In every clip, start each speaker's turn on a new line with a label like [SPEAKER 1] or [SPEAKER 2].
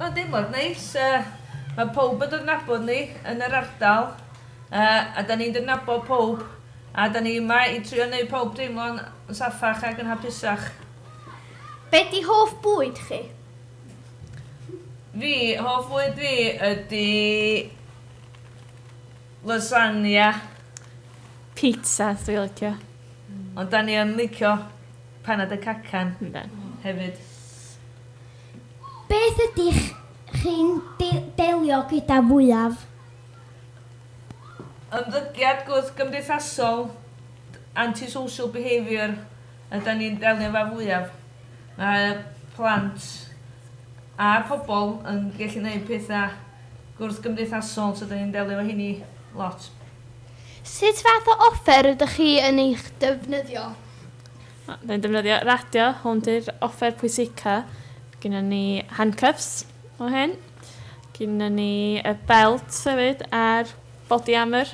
[SPEAKER 1] Mae'n deimlad neis, mae pawb yn dod yn nabod ni yn yr ardal a da ni'n dod yn nabod pawb a da ni yma i trio neud pawb deimlo'n saffach ac yn hapusach.
[SPEAKER 2] Be di hoff bwyd chi? Fi,
[SPEAKER 1] hoff fwyd fi ydi lasagna.
[SPEAKER 3] Pizzas dwi'n licio. Ond da ni
[SPEAKER 1] yn licio panad y cacan hefyd.
[SPEAKER 2] Beth ydych chi'n delio gyda fwyaf?
[SPEAKER 1] Ymddygiad gwrthgymdeithasol, anti-social behaviour, ydan ni'n delio efo fwyaf. Mae plant a pobl yn gallu gwneud pethau gwrthgymdeithasol, so ydan ni'n delio efo hynny lot.
[SPEAKER 2] Sut fath o offer ydych chi yn ei ddefnyddio?
[SPEAKER 3] Fe'n defnyddio radio, hwn di'r offer pwysica. Gynnon ni handcuffs o hyn. Gynnon ni y belt hefyd a'r body armour.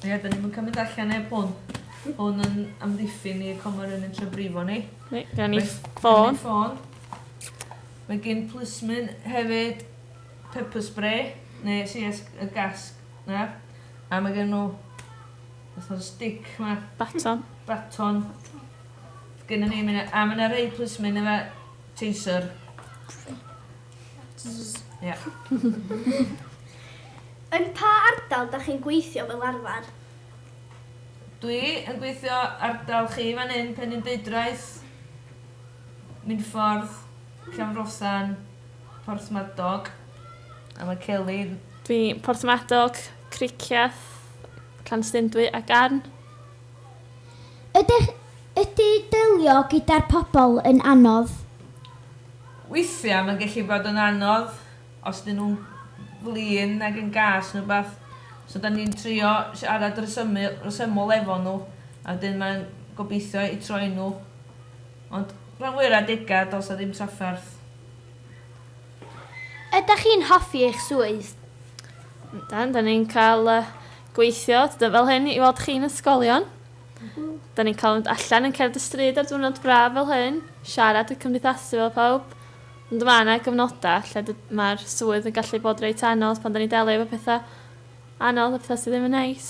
[SPEAKER 3] Ie, dyn ni'm yn
[SPEAKER 1] cymryd allan neb hwn. Hwn yn amddiffyn ni y coma rywun yn trio brifo ni. Reit, gynnon ni
[SPEAKER 3] ffôn. ffôn.
[SPEAKER 1] Mae gyn plismyn hefyd pepper spray, neu CS, y gasg na. A mae gen nhw Os na stick ma. Baton. Baton. Gynna ni mine a ma na rei plismin efo taser. Ia.
[SPEAKER 2] Yn pa ardal da chi'n gweithio fel arfer?
[SPEAKER 1] Dwi yn gweithio ardal chi fan hyn Penrhyn Deudraeth, Minffordd, Llanfrothan, Porthmadog a ma Celi Dwi
[SPEAKER 3] Porthmadog. Cricieth, Llanstundwy a Garn. Ydych,
[SPEAKER 2] ydy delio gyda'r pobl yn anodd?
[SPEAKER 1] Weithiau mae'n gallu bod yn anodd os dyn nhw'n flin nag yn gas neu rywbeth so dan ni'n trio siarad resymu- resymol efo nhw a wedyn mae'n gobeithio eu troi nhw ond rhan fwya'r adegau does 'na ddim trafferth.
[SPEAKER 2] Ydach chi'n hoffi eich swydd? Yndan,
[SPEAKER 3] dan ni'n cael uh, gweithio fel hyn i weld chi'n ysgolion. Dan ni'n cael mynd allan yn cerdd y stryd ar diwrnod braf fel hyn, siarad y cymdeithasu fel pawb. Ond mae yna gyfnodau lle mae'r swydd yn gallu bod reit anodd pan da ni'n delio efo pethau anodd a pethau sydd ddim yn neis.